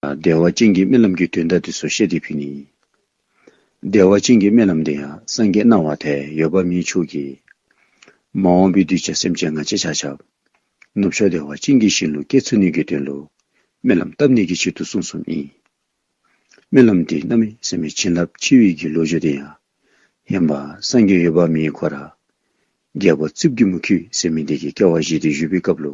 བདེ་བ་ཅན་གྱི་རྨི་ལམ་གྱི་དོན་ལྟ་དུས་སུ་ཤེས་དེ་ཕུད་ནི། བདེ་བ་ཅན་གྱི་རྨི་ལམ་དེ་ཡང་སངས་རྒྱས་སྣང་བ་དེ་ཡོད་པ་མིའི་ཕྱུགས་ཀྱིས། མ་འོངས་པའི་དུས་ཀྱི་སེམས་ཅན་ང་ཅི་བྱ་བྱབ། ནུབ་ཕྱོགས་བདེ་བ་ཅན་གྱི་བཞིན་ལུས་སྐྱེ་ཚུལ་ནུས་ཀྱི་དོན་དུ། རྨི་ལམ་བཏབ་ནས་ཀྱི་ཕྱིར་དུ་གསུངས་སོ་གཉིས། རྨི་ལམ་དེ་རྣམ་མེད་སེམས་མའི་བྱིན་རླབས་ཕྱི་དབྱིབས་ཀྱི་ལོ་རྒྱུས་དེ་ཡང། ཡན་པ་སངས་རྒྱས་ཡོད་པ་མིའི་གོ་ར། རྒྱལ་པོ་རྩིབས་ཀྱི་མུ་ཁྱུད་སེམས་མི་འདས་ཀྱི་སྐལ་བ་བཞེས་ཏེ་བཞུད་པའི་སྐབས་ལོ།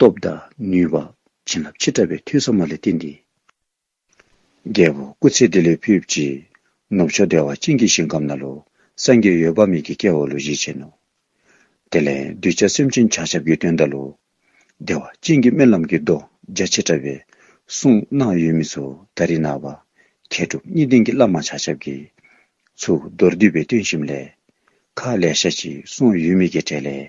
སྟོབས་དང་ནུས་པ། བྱིན་རླབས་ཆེ་དྲགས་པའི་ཐུགས་བསམ་མ་ལས་བརྟེན་ཏེ། རྒྱལ་པོ་སྐུ་ཚེ་བདེ་ལེགས་ཕུལ་བགྱིས། ནུབ་ཕྱོགས་བདེ་བ་སྤྱིན་གྱི་ཞིང་ཁམས་ན་ལོ། སངས་རྒྱས་ཡོལ་བབས་མིག་གི་སྐྱེ་བོ་ལོ་བཞི་ཅན་ནོ། དེ་ལས་གདུལ་བྱ་སེམས་ཅན་བྱང་ཆབ་ཀྱི་དོན་བརྡ་ལོ། བདེ་བ་སྤྱིན་གྱི་རྨི་ལམ་གྱི་མདོ་རྒྱ་ཆེ་དྲགས་པའི། གསུང་སྣང་ཡུལ་མི་ཚོ་ད་རི་ནག་པ། མཁས་གྲུབ་གཉིས་ལྡན་གྱི་བླ་མ་བྱང་ཆབ་ཀྱི། ཚུགས་མདོར་བསྡུས་པའི་བསྟོད་གཤིམས་ལས། མཁའ་ལས་ཤ་གཅིག་གསུང་ཡུལ་མིག་གི་གྲལ་ལས།